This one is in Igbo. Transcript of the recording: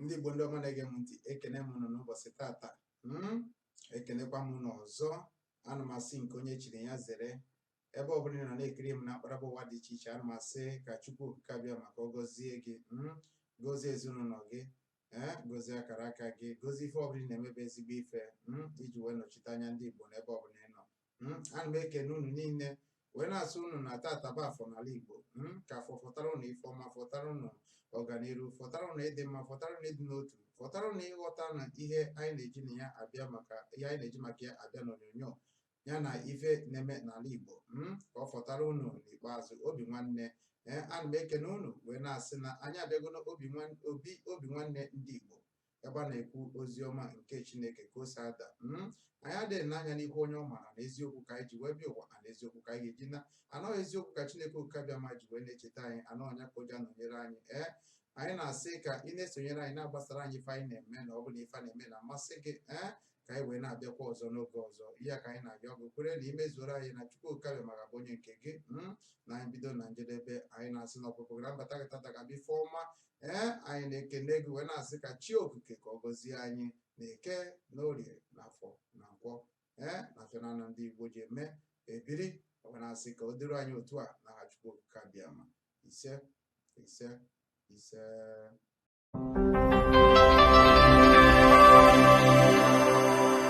ndị Igbo ndị ọma na-ege m ntị ekene m unu n'ụbọchị tata hmm? ekenekwa m unu ọzọ ana m asị nke onye chiri ya zere ebe ọbụla ị nọ na-ekiri m na akparaba ụwa dị iche iche ana m asị ka Chukwu okike Abịama ka ọ gọzie gị hmm? gọzie ezinụlọ gị ee eh? gọzie akara aka gị gọzie ife ọbụla ị na-eme bụ ezigbo ife hmm? iji wee nọchite anya ndị Igbo n'ebe ọbụla ị nọ Mm, ana m ekene unu niile wee na-asị unu na tata bụ Afọ n'ala Igbo Mm, ka Afọ fọtara unu ife ọma fọtara unu ọganiru fọtara unu ịdị mma fọtara unu ịdị n'otu fọtara unu ịghọta na ihe anyị na-eji na ya abịa maka ihe anyị na-eji maka ya abịa n'onyonyo ya na ife na-eme n'ala Igbo Mm, ka ọ fọtara unu n'ikpeazụ obi nwanne ee ana m ekene unu wee na-asị na anyị abịago n'obi nwan- obi obi nwanne ndị Igbo ebe a na-ekwu ozi ọma nke Chineke ka o si ada hmm? anyị adịghị ene anya n'ihu onye ọbụla maka na eziokwu ka anyị ji wee bịa ụwa na eziokwu ka anyị ga-eji naa na ọ bụ eziokwu ka Chineke oke Abịama ji wee na-echeta anyị na ọ bụ ya ka o ji anọnyere anyị ee anyị na-asị ka ị na-esonyere anyị na-agbasara anyị ife anyị na-eme na ọ bụ na ife a na-eme na-amasị gị ee ka anyị wee na-abịakwa ọzọ n'oge ọzọ ihe ka anyị na-abịa ọ bụrụkwa na i mezuoro anyị na Chukwu oke Abịama ga-abụ onye nke gị hmm? na anyị bido na njedebe anyị na-asị na ọpụpụ gị na mbata gị tata ga-abụ ife ọma ee anyị na-ekene gị wee na-asị ka chi okike ka ọ gọzie anyị na Eke na Orie na Afọ na Nkwọ ee na fa naanọ ndị Igbo ji eme ebiri wee na-asị ka ọ dịrị anyị otu a n'aha Chukwu okike Abịama ise ise ise